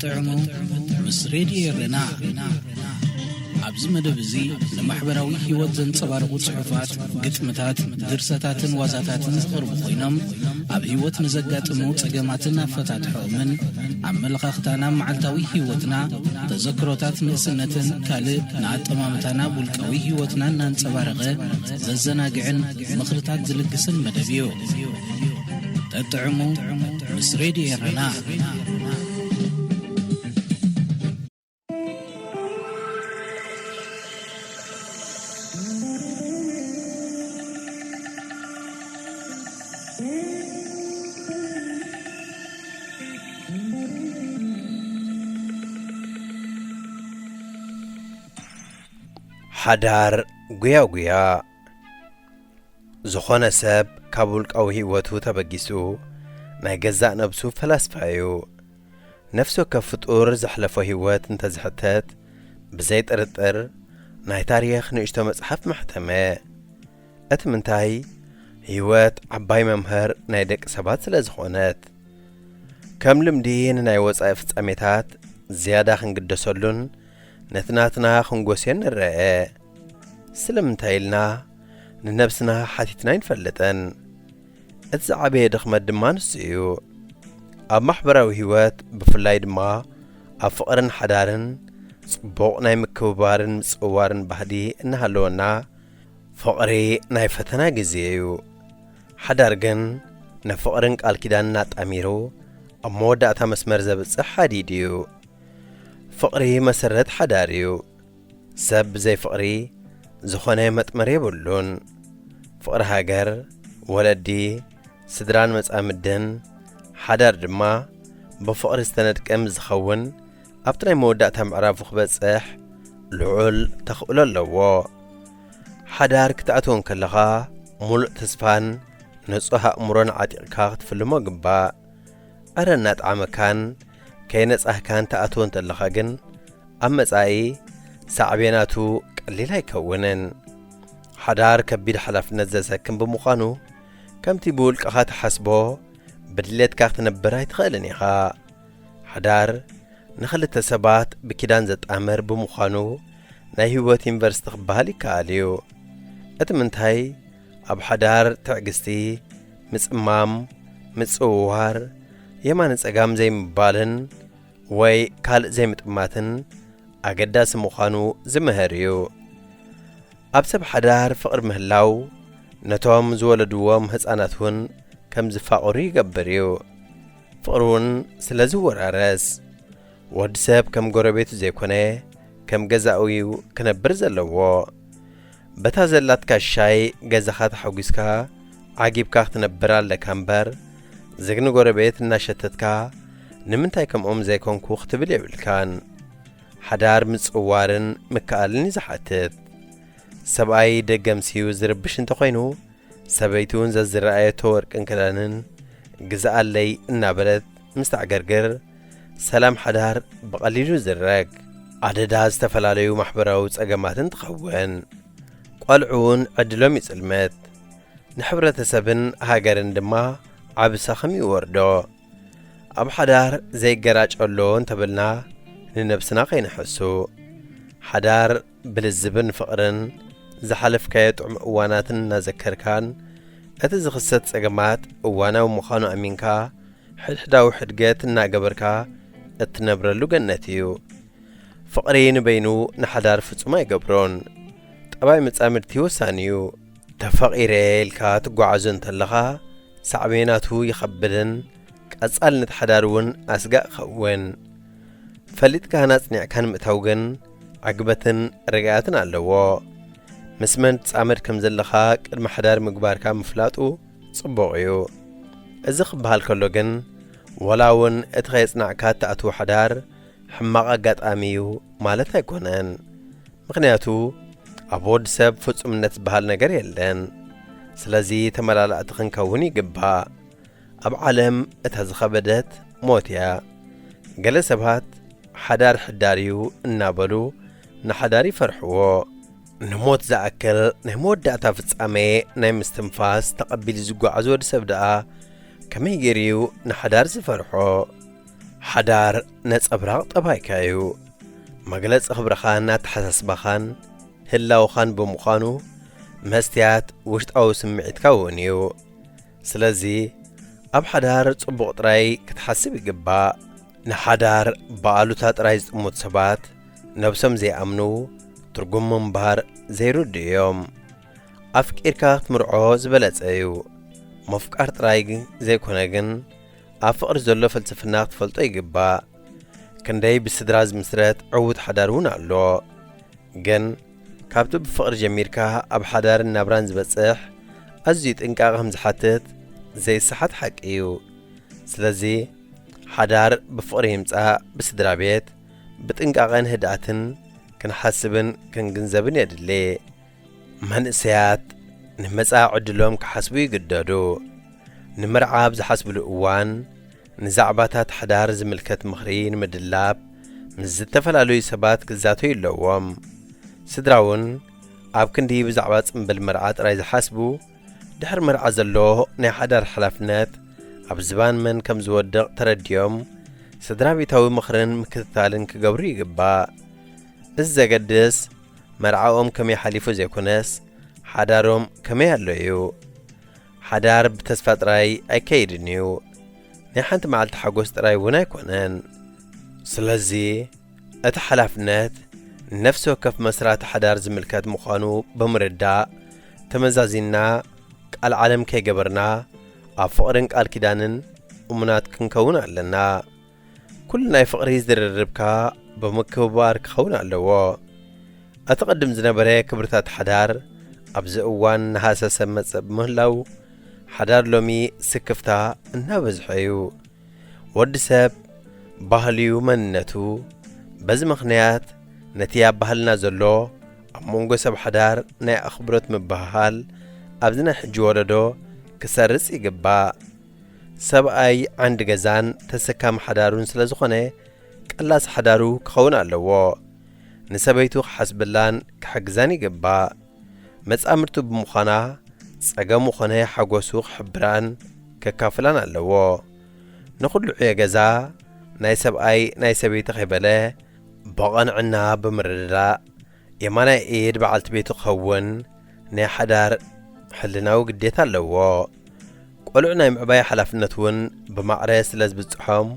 ጥዑሙ ምስ ሬድዮ ኤረና ኣብዚ መደብ እዚ ንማሕበራዊ ህይወት ዘንጸባርቑ ጽሑፋት ግጥምታት ድርሰታትን ዋዛታትን ዝቐርቡ ኮይኖም ኣብ ህይወት ንዘጋጥሙ ጸገማትን ኣፈታትሖምን ኣመለኻኽታና መዓልታዊ ህይወትና ተዘክሮታት ንእስነትን ካልእ ንኣጠማምታና ውልቃዊ ህይወትና እናንጸባረቐ ዘዘናግዕን ምኽርታት ዝልግስን መደብ እዩ። ጠጥዕሙ ምስ ሬድዮ ኤረና። ሓዳር ጉያጉያ ዝኾነ ሰብ ካብ ውልቃዊ ህይወቱ ተበጊሱ ናይ ገዛእ ነብሱ ፈላስፋ እዩ። ነፍሲ ወከፍ ፍጡር ዘሕለፎ ህይወት እንተ ዝሕተት ብዘይ ጥርጥር ናይ ታሪኽ ንእሽቶ መጽሓፍ ምሕተመ። እቲ ምንታይ ህይወት ዓባይ መምህር ናይ ደቂ ሰባት ስለ ዝኾነት ከም ልምዲ ንናይ ወጻኢ ፍጻሜታት ዝያዳ ክንግደሰሉን ነቲ ናትና ክንጎስዮን ንረአ። ስለምንታይ ኢልና ንነብስና ሓቲትና ኣይንፈልጥን። እቲ ዝዓበየ ድኽመት ድማ ንሱ እዩ። ኣብ ማሕበራዊ ህይወት ብፍላይ ድማ ኣብ ፍቕርን ሓዳርን ጽቡቕ ናይ ምክብባርን ምጽውዋርን ባህሊ እናሃለወና ፍቕሪ ናይ ፈተና ግዜ እዩ። ሓዳር ግን ንፍቕርን ቃል ኪዳንን ኣጣሚሩ ኣብ መወዳእታ መስመር ዘብጽሕ ሓዲድ እዩ። ፍቕሪ መሰረት ሓዳር እዩ። ሰብ ብዘይ ፍቕሪ ዝኾነ መጥመሪ የብሉን። ፍቕሪ ሃገር፣ ወለዲ፣ ስድራን መጻምድን፣ ሓዳር ድማ ብፍቕሪ ዝተነድቀ ምስ ዝኸውን ኣብቲ ናይ መወዳእታ ምዕራፉ ክበጽሕ ልዑል ተኽእሎ ኣለዎ። ሓዳር ክትኣትዎ እንከለኻ ምሉእ ተስፋን ንጹህ ኣእምሮን ዓጢቕካ ክትፍልሞ ግባእ። ኣረ እናጥዓመካን ከየነጻህካን ትኣትዎ እንተለኻ ግን ኣብ መጻኢ ሳዕቤናቱ ቀሊል ኣይከውንን። ሓዳር ከቢድ ሓላፍነት ዘሰክም ብምዃኑ ከምቲ ብውልቅኻ ትሓስቦ ብድሌትካ ክትነብር ኣይትኽእልን ኢኻ። ሓዳር ንኽልተ ሰባት ብኪዳን ዘጣምር ብምዃኑ ናይ ህይወት ዩኒቨርሲቲ ክበሃል ይከኣል እዩ። እቲ ምንታይ ኣብ ሓዳር ትዕግስቲ፣ ምጽማም፣ ምጽውዋር፣ የማነ ጸጋም ዘይምባልን ወይ ካልእ ዘይምጥማትን ኣገዳሲ ምዃኑ ዝምህር እዩ። ኣብ ሰብ ሓዳር ፍቕሪ ምህላው ነቶም ዝወለድዎም ህጻናት እውን ከም ዝፋቕሩ ይገብር እዩ። ፍቕሪ እውን ስለ ዝወራረስ ወዲ ሰብ ከም ጎረቤቱ ዘይኮነ ከም ገዛኡ እዩ ክነብር ዘለዎ። በታ ዘላትካ ሻይ ገዛኻ ተሓጒስካ ዓጊብካ ክትነብር ኣለካ እምበር፣ ዝግኒ ጎረቤት እናሸተትካ ንምንታይ ከምኦም ዘይኮንኩ ክትብል የብልካን። ሓዳር ምጽዋርን ምክኣልን እዩ ዝሓትት። ሰብኣይ ደገምሲዩ ዝርብሽ እንተኾይኑ፣ ሰበይቲውን ዘዝረኣየቶ ወርቅን ክዳንን ግዝኣለይ እናበለት፣ ምስ ተዕገርግር ሰላም ሓዳር ብቐሊሉ ዝረግ ኣደዳ ዝተፈላለዩ ማሕበራዊ ጸገማትን ትኸውን። ቈልዑ እውን ዕድሎም ይጽልመት፣ ንሕብረተሰብን ሃገርን ድማ ዓቢ ሰኽም ይወርዶ። ኣብ ሓዳር ዘይገራጨሎ እንተበልና ንነብስና ከይንሐሱ ሓዳር ብልዝብን ፍቕርን ዝሓለፍካዮ ጥዑም እዋናትን እናዘከርካን እቲ ዝኽሰት ጸገማት እዋናዊ ምዃኑ ኣሚንካ ሕድሕዳዊ ሕድገት እናገበርካ እትነብረሉ ገነት እዩ። ፍቕሪ ንበይኑ ንሓዳር ፍጹም ኣይገብሮን። ጠባይ መጻምድቲ ወሳኒ እዩ። ተፈቒረ ኢልካ ትጓዓዞ እንተለኻ ሳዕቤናቱ ይኸብድን ቀጻልነት ሓዳር እውን ኣስጋእ ይኸውን። ፈሊጥካን ኣጽኒዕካን ምእታው ግን ዕግበትን ርግኣትን ኣለዎ። ምስ መን ትጻመድ ከም ዘለኻ ቅድሚ ሓዳር ምግባርካ ምፍላጡ ጽቡቕ እዩ። እዚ ክበሃል ከሎ ግን ዋላ እውን እቲ ከየጽናዕካ እትኣትዎ ሓዳር ሕማቕ ኣጋጣሚ እዩ ማለት ኣይኮነን። ምኽንያቱ ኣብ ወድ ሰብ ፍጹምነት ዝበሃል ነገር የለን። ስለዚ ተመላላእቲ ክንከውን ይግባእ። ኣብ ዓለም እታ ዝኸበደት ሞት እያ። ገለ ሰባት ሓዳር ሕዳር እዩ እናበሉ ንሓዳር ይፈርሕዎ። ንሞት ዝኣክል ናይ መወዳእታ ፍጻሜ ናይ ምስትንፋስ ተቐቢሉ ዝጓዓዝ ወዲ ሰብ ደኣ ከመይ ገይሩ እዩ ንሓዳር ዝፈርሖ? ሓዳር ነጸብራቕ ጠባይካ እዩ። መግለጺ ክብርኻን ኣተሓሳስባኻን ህላውኻን ብምዃኑ መስትያት ውሽጣዊ ስምዒትካ እውን እዩ። ስለዚ ኣብ ሓዳር ጽቡቕ ጥራይ ክትሓስብ ይግባእ። ንሓዳር ብኣሉታ ጥራይ ዝጥሙት ሰባት ነብሶም ዘይኣምኑ ትርጉም ምንባር ዘይርድኡ እዮም። ኣፍቂርካ ክትምርዖ ዝበለጸ እዩ። ምፍቃር ጥራይ ዘይኮነ ግን ኣብ ፍቕሪ ዘሎ ፍልስፍና ክትፈልጦ ይግባእ። ክንደይ ብስድራ ዝምስረት ዕዉት ሓዳር እውን ኣሎ። ግን ካብቲ ብፍቕሪ ጀሚርካ ኣብ ሓዳርን ናብራን ዝበጽሕ ኣዝዩ ጥንቃቐ ከም ዝሓትት ዘይሰሓት ሓቂ እዩ። ስለዚ ሓዳር ብፍቕሪ ይምጻእ ብስድራ ቤት ብጥንቃቐን ህድኣትን ክንሓስብን ክንግንዘብን የድሊ። መንእሰያት ንመጻኢ ዕድሎም ክሓስቡ ይግደዱ። ንመርዓ ኣብ ዝሓስብሉ እዋን ንዛዕባታት ሓዳር ዝምልከት ምኽሪ ንምድላብ ምስ ዝተፈላለዩ ሰባት ክዛተዩ ኣለዎም። ስድራ'ውን ኣብ ክንዲ ብዛዕባ ጽምብል መርዓ ጥራይ ዝሓስቡ፣ ድሕሪ መርዓ ዘሎ ናይ ሓዳር ሓላፍነት ኣብ ዝባን መን ከም ዝወድቕ ተረዲኦም ስድራቤታዊ ምኽርን ምክትታልን ክገብሩ ይግባእ። እዚ ዘገድስ መርዓኦም ከመይ ሓሊፉ ዘይኮነስ ሓዳሮም ከመይ ኣሎ እዩ። ሓዳር ብተስፋ ጥራይ ኣይከይድን እዩ፣ ናይ ሓንቲ መዓልቲ ሓጎስ ጥራይ እውን ኣይኮነን። ስለዚ እቲ ሓላፍነት ንነፍሲ ወከፍ መስራቲ ሓዳር ዝምልከት ምዃኑ ብምርዳእ፣ ተመዛዚንና ቃል ዓለም ከይገበርና ኣብ ፍቕርን ቃል ኪዳንን እሙናት ክንከውን ኣለና። ኩሉ ናይ ፍቕሪ ዝርርብካ ብምክብባር ክኸውን ኣለዎ። እቲ ቅድም ዝነበረ ክብርታት ሓዳር ኣብዚ እዋን እናሃሰሰ መጸእ ብምህላው ሓዳር ሎሚ ስክፍታ እናበዝሖ እዩ። ወዲ ሰብ ባህልዩ መንነቱ። በዚ ምኽንያት ነቲ ኣብ ባህልና ዘሎ ኣብ መንጎ ሰብ ሓዳር ናይ ኣኽብሮት ምብህሃል ኣብዚ ናይ ሕጂ ወለዶ ክሰርጽ ይግባእ። ሰብኣይ ዓንዲ ገዛን ተሰካሚ ሓዳሩን ስለ ዝኾነ ቀላሲ ሓዳሩ ክኸውን ኣለዎ። ንሰበይቱ ክሓስበላን ክሕግዛን ይግባእ። መጻምድቱ ብምዃና ጸገሙ ኮነ ሓጎሱ ክሕብራን ከካፍላን ኣለዎ። ንኹሉ ዕዮ ገዛ ናይ ሰብኣይ ናይ ሰበይቲ ከይበለ ብቐንዕና ብምርድዳእ የማናይ ኢድ በዓልቲ ቤቱ ክኸውን ናይ ሓዳር ሕልናዊ ግዴታ ኣለዎ። ቆልዑ ናይ ምዕባይ ሓላፍነት እውን ብማዕረ ስለ ዝብጽሖም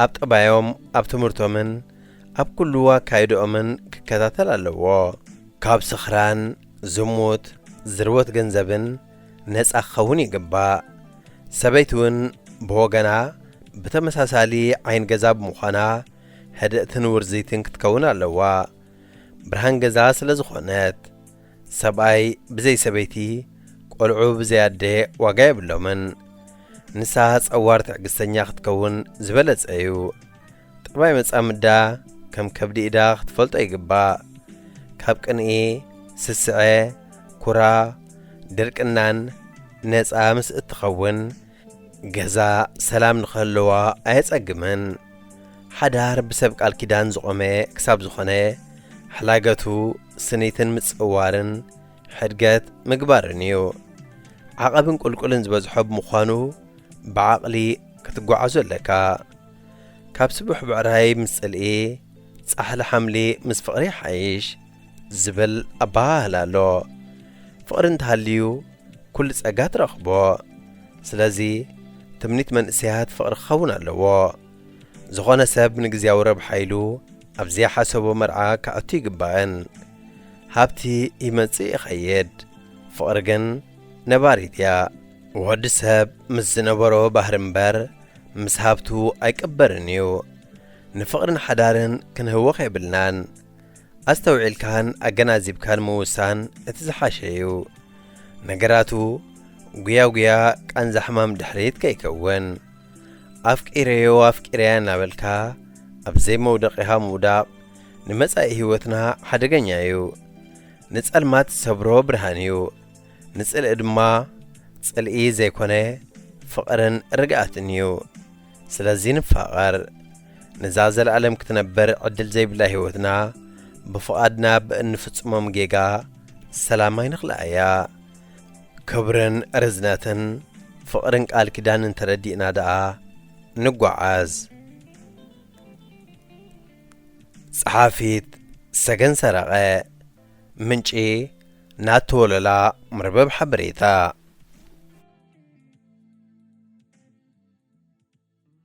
ኣብ ጠባዮም፣ ኣብ ትምህርቶምን ኣብ ኩሉ ኣካይድኦምን ክከታተል ኣለዎ። ካብ ስኽራን፣ ዝሙት፣ ዝርወት ገንዘብን ነጻ ክኸውን ይግባእ። ሰበይቲ እውን ብወገና ብተመሳሳሊ ዓይን ገዛ ብምዃና ህድእትን ውርዝይትን ክትከውን ኣለዋ። ብርሃን ገዛ ስለ ዝኾነት ሰብኣይ ብዘይ ሰበይቲ ቆልዑ ብዘይ ኣደ ዋጋ የብሎምን ንሳ ጸዋር ትዕግስተኛ ክትከውን ዝበለጸ እዩ ጠባይ መጻምዳ ከም ከብዲ ኢዳ ክትፈልጦ ይግባእ ካብ ቅንኢ ስስዐ ኩራ ድርቅናን ነፃ ምስ እትኸውን ገዛ ሰላም ንኽህልዋ ኣየጸግምን። ሓዳር ብሰብ ቃል ኪዳን ዝቖመ ክሳብ ዝኾነ፣ ሕላገቱ ስኒትን ምጽውዋርን፣ ሕድገት ምግባርን እዩ። ዓቐብን ቁልቁልን ዝበዝሖ ብምዃኑ ብዓቕሊ ክትጓዓዞ ኣለካ። ካብ ስቡሕ ብዕራይ ምስ ጽልኢ፣ ጻሕሊ ሓምሊ ምስ ፍቕሪ ይሓይሽ ዝብል ኣበሃህላ ኣሎ። ፍቕሪ እንተሃልዩ፣ ኩሉ ጸጋ ትረኽቦ ስለዚ ትምኒት መንእሰያት ፍቕሪ ክኸውን ኣለዎ ዝኾነ ሰብ ንግዝያዊ ረብሓ ኢሉ ኣብ ዘይሓሰቦ መርዓ ክኣቱ ኣይግባእን ሃብቲ ይመጽእ ይኸይድ ፍቕሪ ግን ነባሪት እያ ወዲ ሰብ ምስ ዝነበሮ ባህሪ እምበር ምስ ሃብቱ ኣይቅበርን እዩ ንፍቕርን ሓዳርን ክንህወኽ የብልናን ኣስተውዒልካን ኣገናዚብካን ምውሳን እቲ ዝሓሸ እዩ። ነገራቱ ጉያጉያ ቃንዛ ሕማም ድሕሪት ከይከውን። ኣፍቂረዮ ኣፍቂረያ እናበልካ ኣብ ዘይመውደቒኻ ምውዳቕ ንመጻኢ ህይወትና ሓደገኛ እዩ። ንጸልማት ዝሰብሮ ብርሃን እዩ፣ ንጽልኢ ድማ ጽልኢ ዘይኮነ ፍቕርን ርግኣትን እዩ። ስለዚ ንፋቐር። ነዛ ዘለኣለም ክትነበር ዕድል ዘይብላ ህይወትና ብፍቓድና ብእንፍጽሞም ጌጋ ሰላም ኣይንኽልኣያ። ክብርን ርዝነትን ፍቕርን ቃል ኪዳንን ተረዲእና ደኣ ንጓዓዝ። ጸሓፊት፣ ሰገን ሰረቐ ምንጪ ናቲ ወለላ መርበብ ሓበሬታ።